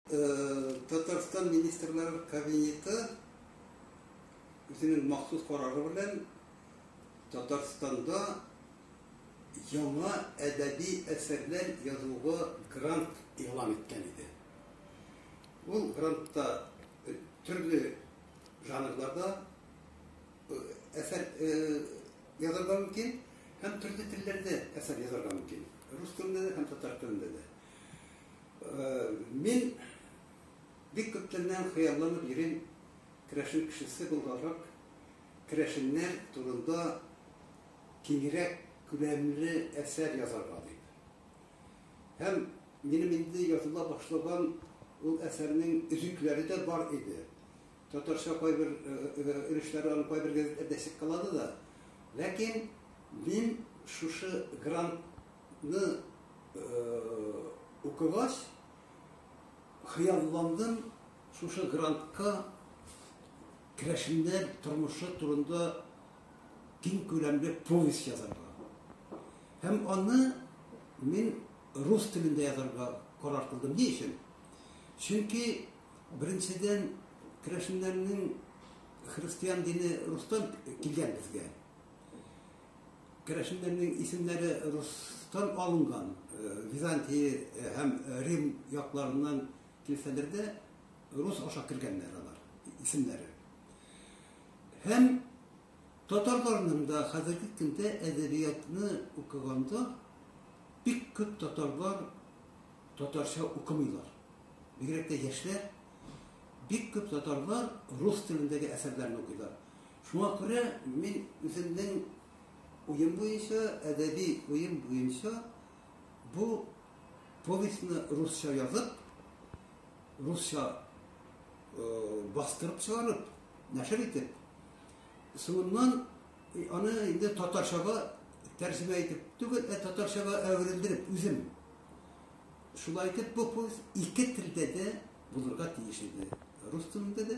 Татарстан министрлар кабинеты үзенең махсус карары белән Татарстанда яңа әдәби әсәрләр язуга грант игълан иткән иде. Ул грантта э, төрле жанрларда э, әсәр э, язарга мөмкин һәм төрле телләрдә әсәр язарга мөмкин. Рус телендә дә һәм татар телендә дә. Мин бик күптәннән хыялланып йөрим керәшен кешесе булганрак керәшеннәр турында киңрәк күләмле әсәр язарга дип. Һәм минем инде языла башлаган ул әсәрнең өзекләре дә бар иде. Татарча кайбер өлешләре аның кайбер газеталарда чыккалады да. Ләкин мин шушы грант Ны укыгач, хыялландым, шушы грантка керәшеннәр тормышы турында киң күләмле повесть язарга. Һәм аны мин рус телендә язарга карар кылдым. Ни өчен? Чөнки беренчедән керәшеннәрнең христиан дине рустан килгән безгә. Керәшеннәрнең исемнәре рустан алынган, Византия һәм Рим якларыннан килсәләр дә, рус аша кергәннәр алар исемнәре. Һәм татарларның да хәзерге көндә әдәбиятны укыганда бик күп татарлар татарча укымыйлар. Бигрәк тә яшьләр бик күп татарлар рус телендәге әсәрләрне укыйлар. Шуңа күрә мин үземнең уем буенча, әдәби уем буенча бу повестьны русча язып, русча бастырып чыгарып, нәшер итеп, соңыннан аны инде татарчага тәрҗемә итеп түгел, ә татарчага әверелдереп үзем. Шулай итеп бу повесть ике телдә дә булырга тиеш иде. Рус телендә дә,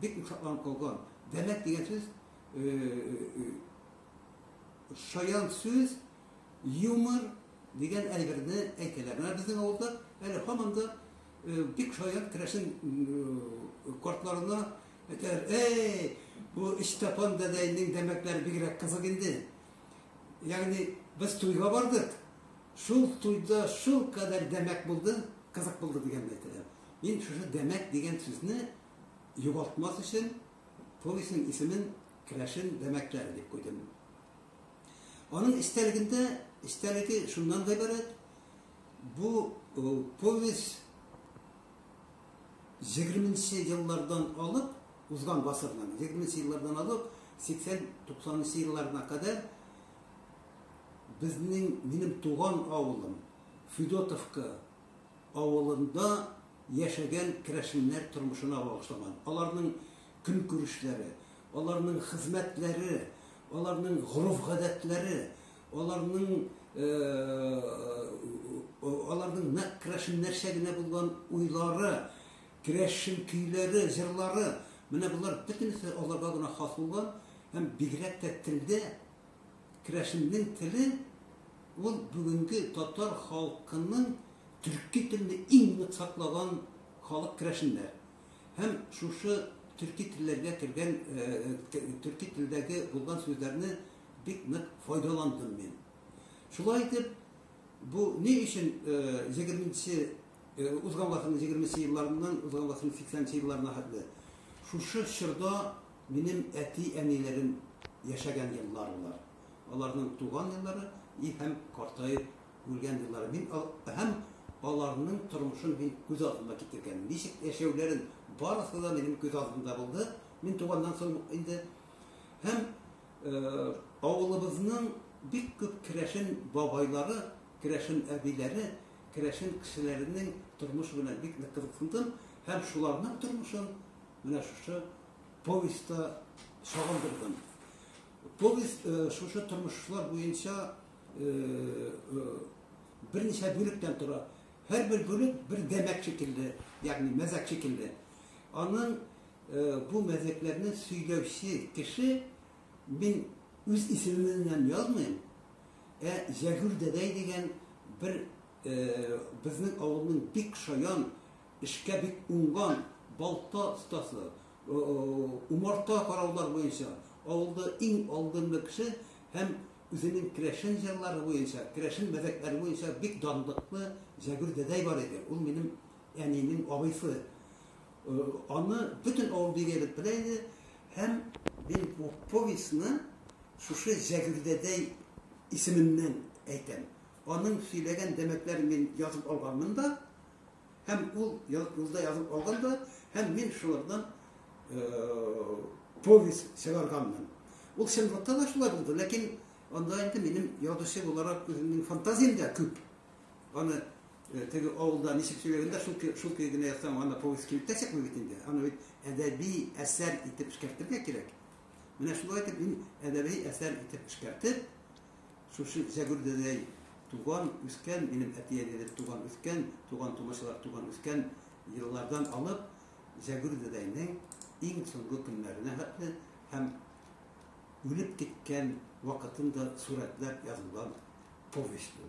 Бик ошакланып калган. Дәмәк дигән сүз шаян сүз, юмор дигән әйберне әйтәләр. Менә безнең авылда әле һаман да бик шаян керәшен кортларына әйтәләр, эй, бу өч тапан дәдәйнең дәмәкләре бигрәк кызык инде. Ягъни без туйга бардык, шул туйда шул кадәр дәмәк булды, кызык булды дигәнне әйтәләр. Мин шушы Дәмәк дигән сүзне югалтмас өчен повестьның исемен Керәшен Дәмәкләре дип куйдым. Аның истәлегендә, истәлеге шуннан гыйбарәт, бу повесть 20-нче еллардан алып, узган гасырның 20-нче еллардан алып 80-90-нчы елларына кадәр безнең минем туган авылым Федотовка авылында яшәгән керәшеннәр тормышына багышлаган. Аларның көнкүрешләре, аларның хезмәтләре, аларның гореф-гадәтләре, аларның аларның нәкъ керәшеннәрчә генә булган уйлары, керәшен көйләре, җырлары, менә болар бөтенесе аларга гына хас булган һәм бигрәк тә телдә Керәшеннең теле ул бүгенге татар халкының төрки телне иң нык саклаган халык керәшеннәр. Һәм шушы төрки телләргә кергән, төрки телдәге булган сүзләрне бик нык файдаландым мин. Шулай итеп, бу ни өчен 20-нче узган гасырның 20-нче елларыннан узган гасырның 80-нче елларына хәтле шушы чорда Минем әти-әниләрем яшәгән еллар болар. Аларның туган еллары и һәм картаеп үлгән еллары. Мин ал һәм аларның тормышын мин күз алдыма китергән. Ничек яшәүләрен, барысы да минем күз алдымда булды. Мин туганнан соң инде һәм авылыбызның бик күп керәшен бабайлары, керәшен әбиләре, керәшен кешеләренең тормышы белән бик нык кызыксындым һәм шуларның тормышын Менә шушы повестьта сагындырдым. Повесть э, шушы тормышлар буенча э, э, берничә бүлектән тора. Һәр бер бүлек бер дәмәк шикелле, ягъни мәзәк шикелле. Аның бу мәзәкләрне сөйләүче кеше мин үз исемемнән язмыйм, ә Җәгүл дәдәй дигән бер безнең авылның бик шаян Эшкә бик уңган, балта остасы, умарта караулар буенча авылда иң алдынгы кеше һәм үзенең керәшен җырлары буенча, керәшен мәзәкләре буенча бик данлыклы Җәгүр дәдәй бар иде. Ул минем әнинең абыйсы. Аны бөтен авыл бигрәк белә иде һәм мин бу повестьны шушы Җәгүр дәдәй исеменнән әйтәм. Аның сөйләгән дәмәкләрен мин язып алганмын да, Һәм ул юлда язып алган да, һәм мин шулардан повесть чыгарганмын. Ул чынлыкта да шулай булды, ләкин анда инде минем язучы буларак үземнең фантазиям дә күп. Аны теге авылда ничек сөйләгәндә шул шул көй генә язсам, аны повесть килеп тә чыкмый бит инде. Аны бит әдәби әсәр итеп эшкәртергә кирәк. Менә шулай итеп мин әдәби әсәр итеп эшкәртеп, Шушы Зәгүрдәдәй туган, үскән, минем әти-әниләр туган, үскән, туган-тумачалар туган, үскән еллардан алып Зәгүрдәдәйнең иң соңгы көннәренә хәтле һәм үлеп киткән вакытын да сурәтләп язылган повесть бу.